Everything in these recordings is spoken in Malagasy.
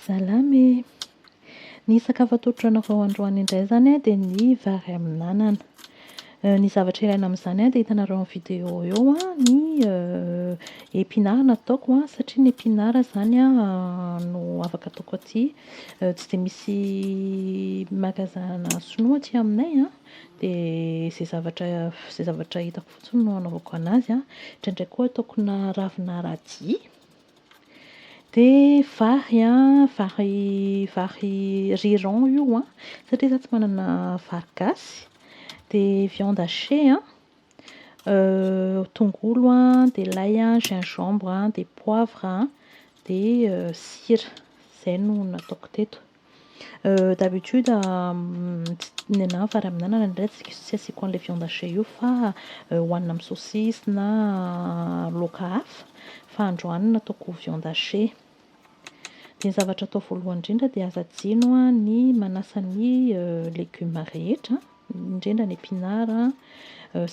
Salama e! Ny sakafo atao an-tranareo androany indray izany an dia ny vary amin'anana. Ny zavatra ilaina amin'izany an dia hitanareo amin'ny vidéo eo ny épinards nataoko an, satria ny épinards izany an no afaka ataoko aty. Tsy dia misy magazana sinoa aty aminay an, dia izay zavatra izay zavatra hitako fotsiny no anaovako anazy an. Indraindray koa ataoko na ravina radis. Dia vary an, vary vary riz-rond io an, satria izaho tsy manana vary gasy. Dia viande hachée an, tongolo an, dia lay an, gingembre an, dia poivre an, dia sira. Izay no nataoko teto. D'habitude ny anah fa raha mihinanana indray tsy asiako an'ilay viande hachée io fa hohanina amin'ny saucisse na laoka hafa. Fa androany no nataoko viande hachée. Dia ny zavatra atao voalohany indrindra dia aza adino ny manasa ny legioma rehetra, indrindra ny épinards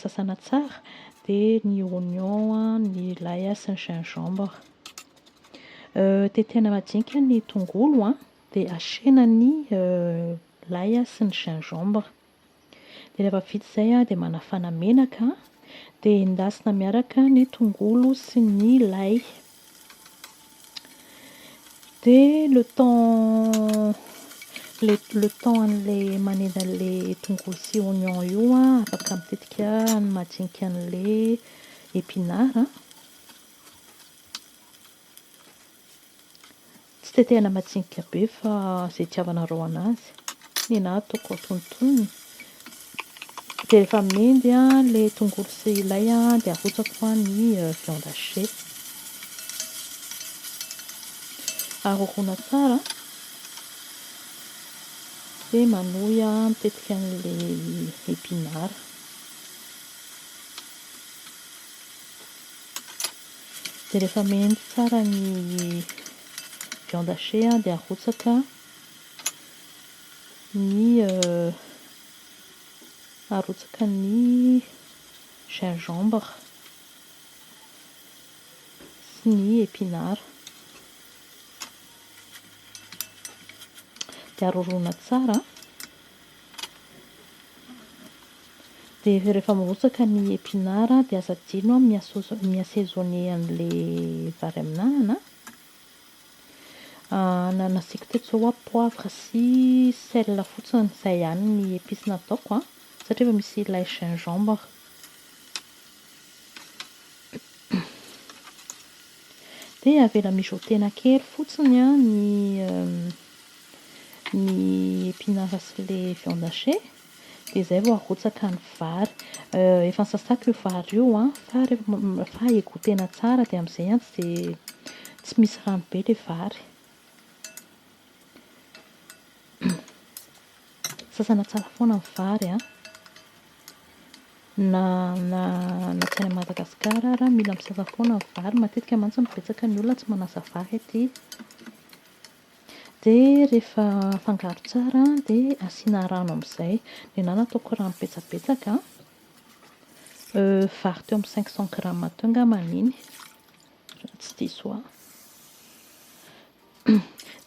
sasana tsara, dia ny oignon, ny lay sy ny gingembre. Tetehana majinika ny tongolo dia asiana ny lay sy ny gingembre. Dia rehefa vita izay dia manafana menaka dia endasina miaraka ny tongolo sy ny lay. Dia le temps le le temps an'ilay manendy an'ilay tongolo sy oignon io afaka mitetika ny majinika an'ilay épinard. Tsy tetehana majinika be fa izay itiavanareo anazy. Ny ahy ataoko antonontonony. Dia rehefa mendy ilay tongolo sy ilay dia arotsako ny viande hachée. Aroroana tsara dia manohy mitetika an'ilay épinard. Dia rehefa mendy tsara ny viande hachée an, dia arotsaka ny arotsaka ny gingembre sy ny épinards. Dia aroroana tsara an. Dia rehefa mirotsaka ny épinard dia aza adino mi assaisonner an'ilay vary amin'anana an, na nasiako teto izao hoa poivre sy sel fotsiny, izay ihany ny épices nataoko an, satria efa misy ilay gingembre. Dia avela mijoter-na kely fotsiny ny ny épinard sy ilay viande hachée. dia izay vao arotsaka ny vary. Efa nosasako io vary io fa rehefa egotena tsara dia amin'izay tsy dia tsy misy rano be ilay vary. Sasana tsara foana ny vary na tsy any Madagasikara ary mila misasa foana ny vary. Matetika mantsy no betsaka ny olona tsy manasa vary aty. Dia rehefa afangaro tsara dia asiana rano amin'izay. Ny ahy nataoko rano betsabetsaka, vary teo amin'ny cinq cent grammes teo angamba iny, raha tsy diso ahy.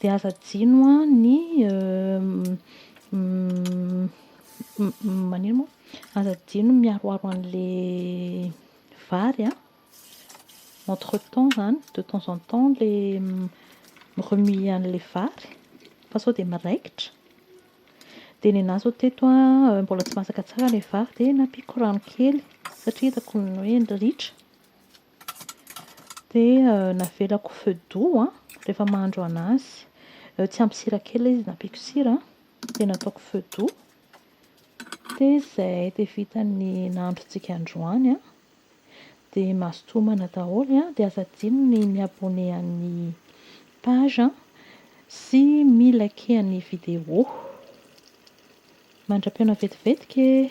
Dia aza adino ny maninona moa, aza adino ny miharoharo an'ilay vary an. Entre temps izany de temps en temps ilay mi-remuer an'ilay vary fa sao dia miraikitra. Dia ny anà izao teto mbola tsy masaka tsara ilay vary dia nampiako rano kely satria hitako ny hoe ritra. Dia navelako feu doux rehefa mahandro an'azy. Tsy ampy sira kely ilay izy, nampiako sira dia nataoko feu doux. Dia izay, dia vita ny nahandrontsika androany. dia mazotoa homana daholo an, dia aza adino ny mi abonner an'ny page an, sy mi liker ny vidéo. Mandra-pihaona vetivetika e!